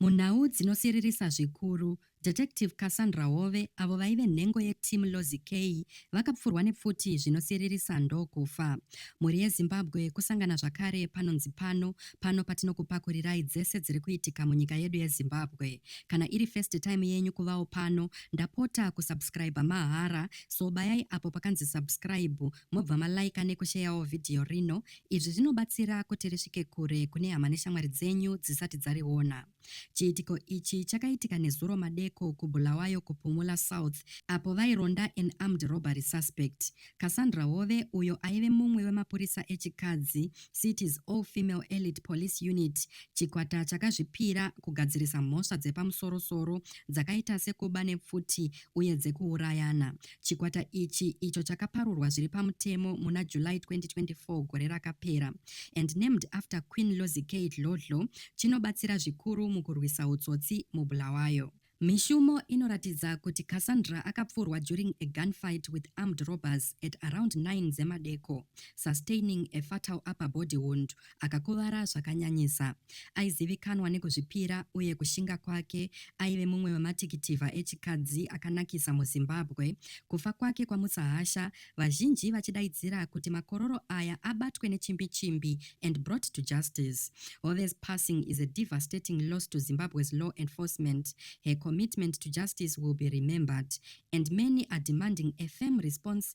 Munhau dzinosiririsa zvikuru, Detective Cassandra Hove, avo vaive nhengo yeTeam Lozi Key, vakapfurwa nepfuti zvinosiririsa ndokufa. Mhuri yeZimbabwe, kusangana zvakare panonzi pano, pano patinokupakurirai dzese dziri kuitika munyika yedu yeZimbabwe. Kana iri first time yenyu kuvawo pano, ndapota kusubscriber mahara, so bayai apo pakanzi subscribe mobva malaika nekusheyawo vhidhiyo rino. Izvi zvinobatsira kuti risvike kure kune hama neshamwari dzenyu dzisati dzariona. Chiitiko ichi chakaitika nezuro madeko kuBulawayo kuPumula South apo vaironda an armed robbery suspect. Cassandra Hove, uyo aive mumwe wemapurisa echikadzi, City's All Female Elite Police Unit, chikwata chakazvipira kugadzirisa mhosva dzepamusorosoro dzakaita sekuba nepfuti uye dzekuurayana, Chikwata ichi, icho chakaparurwa zviri pamutemo muna July 2024 gore rakapera and named after Queen Lozikei Dlodlo, chinobatsira zvikuru mukurwisa hutsotsi muBulawayo. Mishumo inoratidza kuti Cassandra akapfurwa during a gunfight with armed robbers at around 9 dzemadeko, sustaining a fatal upper body wound akakuvara zvakanyanyisa. Aizivikanwa nekuzvipira uye kushinga kwake, aive mumwe wematikitivha echikadzi akanakisa muZimbabwe. Kufa kwake kwamutsahasha, vazhinji vachidaidzira kuti makororo aya abatwe nechimbi chimbi and brought to justice. Hove's passing is a devastating loss to Zimbabwe's law enforcement. Her commitment to justice will be remembered and many are demanding a firm response